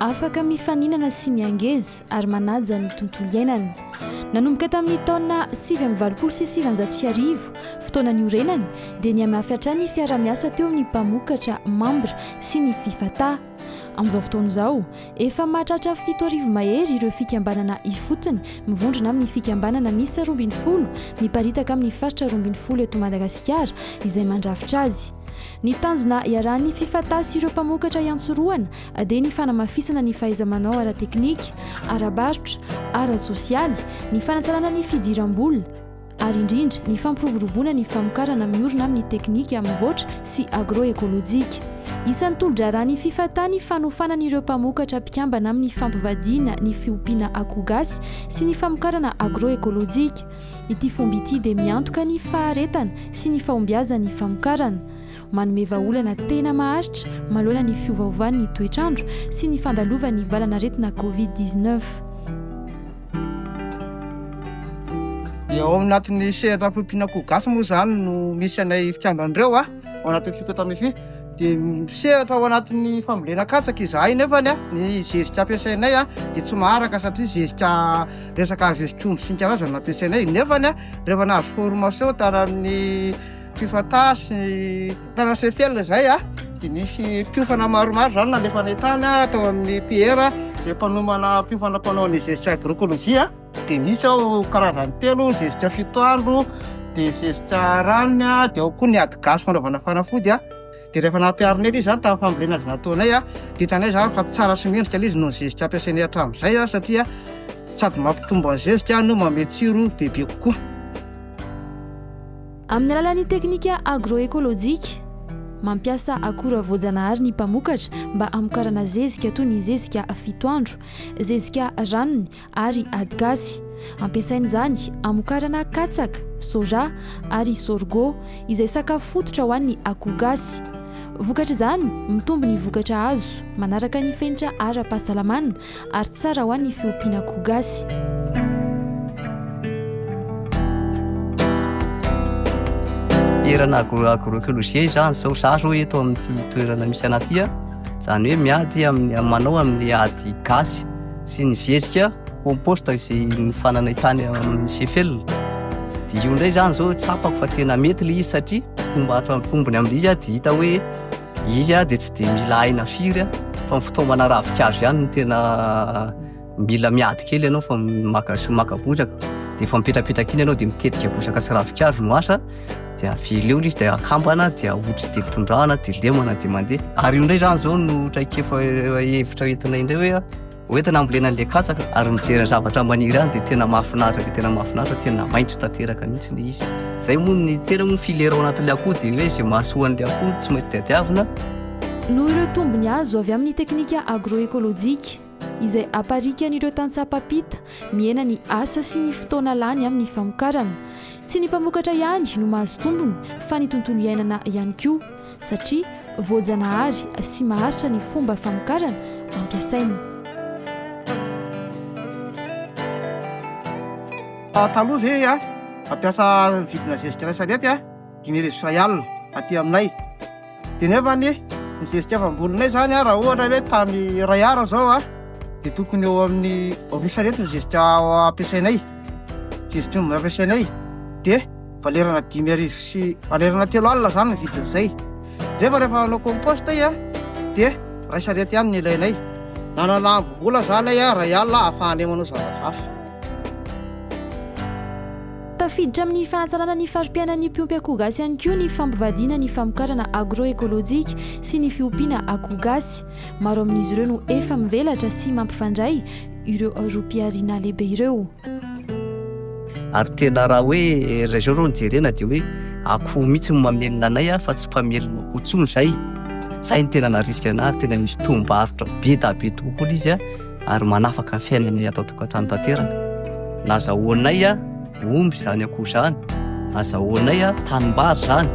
Afaka mifaninana sy miangeza ary manaja ny tontolo iainana. Nanomboka tamin'ny taona sivy amby valopolo sy sivanjato sy arivo, fotoana niorenany, dia nihamafy hatrany ny fiarahamiasa teo amin'ny mpamokatra, mambra, sy ny Fifata. Amin'izao fotoana izao, efa mahatratra fito arivo mahery ireo fikambanana ifotony mivondrona amin'ny fikambanana miisa roa ambin'ny folo miparitaka amin'ny faritra roa ambin'ny folo eto Madagasikara izay mandrafitra azy. Ny tanjona iarahan'ny Fifata sy ireo mpamokatra iantsorohana dia ny fanamafisana ny fahaiza-manao ara-teknika, ara-barotra, ara-tsosialy, ny fanatsarana ny fidiram-bola, ary indrindra ny fampiroboroboana ny famokarana miorina amin'ny teknika mivoatra sy agro-ekolojika. Isan'ny tolo-draharahan'ny Fifata ny fanofanana ireo mpamokatra mpikambana amin'ny fampivadiana ny fiompiana akoho gasy sy ny famokarana agro-ekolojika. Ity fomba ity dia miantoka ny faharetana sy ny fahombiazan'ny famokarana. manome vahaolana tena maharitra manoloana ny fiovaovan'ny toetr'andro sy ny fandalovan'ny valan'aretina Covid dix-neuf. Dia ao anatin'ny sehatra ampiompiana akoho gasy moa izany no misy anay fikamban'ireo a, ao anatin'ny fitota mifi. Dia misehatra ao anatin'ny fambolena katsaka izahay nefany a, ny zezika ampiasainay a dia tsy maharaka satria zezika resaka zezikomby sy ny karazany no ampiasainay. Nefany a, rehefa nahazo formation tany amin'ny. Fifataha sy tanana sy ny felona izay a, dia nisy mpiofana maromaro izany nalefa any an-tany tao amin'ny PR izay mpanomana mpiofana mpanao ny zezika agroekôlôjia, dia nisy ao karazany telo, zezika fito andro, dia zezika rariny a, dia ao koa ny ady gasy fanaovana fanafody a, dia rehefa nampiharina ela izy izany tamin'ny fambolena izay nataonay a, dia hitanay izany fa tsara sy mendrika ilay izy noho ny zezika ampiasainay hatramin'izay a, satria sady mampitombo ny zezika no manome tsiro bebe kokoa. Amin'ny alalan'ny teknika agro-ekolojika, mampiasa akora voajanahary ny mpamokatra mba hamokarana zezika toy ny zezika fito andro, zezika ranony ary adigasy. Ampiasaina izany hamokarana katsaka, soja ary sorgho, izay sakafo fototra ho an'ny akoho gasy. Vokatr'izany, mitombo ny vokatra azo, manaraka ny fenitra ara-pahasalamana ary tsara hoa ny fiompiana akoho gasy. Erana agro agroecologie izany zao za zao eto amin'ity toerana misy anah ty a zany hoe miady amin'ny manao amin'ny ady gasy sy ny zezika compost izay mifananay tany amin'ny sefel dia io indray zany zao tsapako fa tena mety le izy satria tomba tombony amin'ilay izy a dia hita hoe Izy dia tsy dia mila aina firy fa ny fitaomana ravinkazo ihany no tena mila miady kely ianao fa maka sy maka bozaka dia efa mipetrapetraka iny ianao dia mitetika bozaka sy ravinkazo no asa dia aveleo izy dia akambana dia ahoditra dia tondrahana dia lemana dia mandeha ary io indray izany izao no traikefa hevitra entina indray hoe Ho entina hambolena an'ilay katsaka ary mijery ny zavatra maniry any dia tena mahafinaritra dia tena mahafinaritra tena maitso tanteraka mihitsy ny izy. Izay moa ny tena moa filera ao anatin'ilay akoho dia hoe izay mahasoa an'ilay akoho tsy maintsy diadiavina. Noho ireo tombony azo avy amin'ny teknika agroekolojika izay aparikan'ireo tantsaha mpampita, mihena ny asa sy ny fotoana lany amin'ny famokarana. Tsy ny mpamokatra ihany no mahazo tombony fa ny tontolo iainana ihany koa. satria voajanahary sy maharitra ny fomba famokarana ampiasaina. Taloha ve a ampiasa vidina zezika iray sarety a dimy arivo sy iray alina aty aminay dia nefa ny ny zezika efa amboninay izany a raha ohatra hoe tany iray ara izao a dia tokony eo amin'ny roa sarety ny zezika ampiasainay zezika omby ampiasainay dia valerana dimy arivo sy valerana telo alina zany ny vidin'izay rehefa rehefa nanao composte ay a dia ray sarety ihany ny ilainay nanana ambom-bola zany ay a ray alina ahafahanay manao zava-drafa tafiditra amin'ny fanatsarana ny fari-piainan'ny mpiompy akoho gasy ihany koa ny fampivadiana ny famokarana agroekolojika sy ny fiompiana akoho gasy Maro amin'izy ireo no efa mivelatra sy mampifandray ireo rohim-pihariana lehibe ireo. Ary tena raha hoe raha izao no jerena dia hoe akoho mihitsy no mamelona anay fa tsy mpamelona akoho intsony izay. Izay no tena narisika anay ary tena misy toham-barotra be dia be tokoa ilay izy. ary manafaka ny fiainanay ato an-tokantrano tanteraka. Na azahoanay omby izany akoho izany, azahoanay tanimbary izany.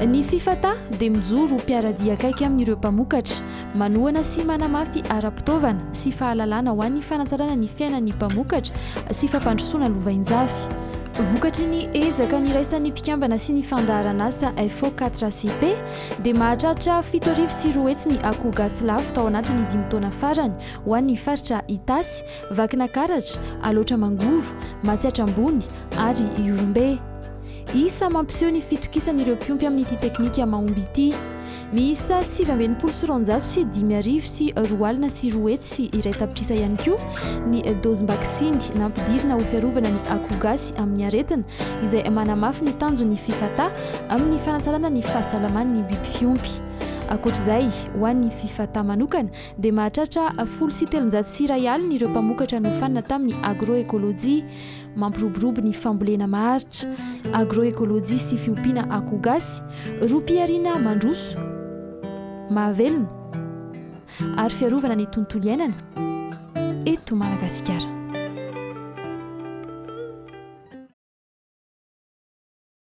Ny FIFATA dia mijoro ho mpiara-dia akaiky amin'ireo mpamokatra, manohana sy manamafy ara-pitaovana sy fahalalana ho an'ny fanatsarana ny fiainan'ny mpamokatra sy fampandrosoana lovainjafy. Vokatry ny ezaka niraisan'ny mpikambana sy ny fandaharanasa FO4CP, dia mahatratra fito arivo sy roa hetsy ny akoho gasy lafo tao anatin'ny dimy taona farany ho an'ny faritra Itasy, Vakinakaratra, Alaotra Mangoro, Matsiatra Ambony ary Ihorombe. Isa mampiseho ny fitokisan'ireo mpiompy amin'ity teknika mahomby ity. Miisa sivy amby enimpolo sy roanjato sy dimy arivo sy roa alina sy roa hetsy sy iray tapitrisa ihany koa ny dozim-baksiny nampidirina ho fiarovana ny akoho gasy amin'ny aretina, izay manamafy ny tanjon'ny Fifata, amin'ny fanatsarana ny fahasalaman'ny biby fiompy. Ankoatra izay, ho an'ny Fifata manokana dia mahatratra folo sy telonjato sy iray alina ireo mpamokatra nofanina tamin'ny agroekolojia mampiroborobo ny fambolena maharitra, agroekolojia sy fiompiana akoho gasy, ropihariana mandroso, mahavelona ary fiarovana ny tontolo iainana eto Madagasikara.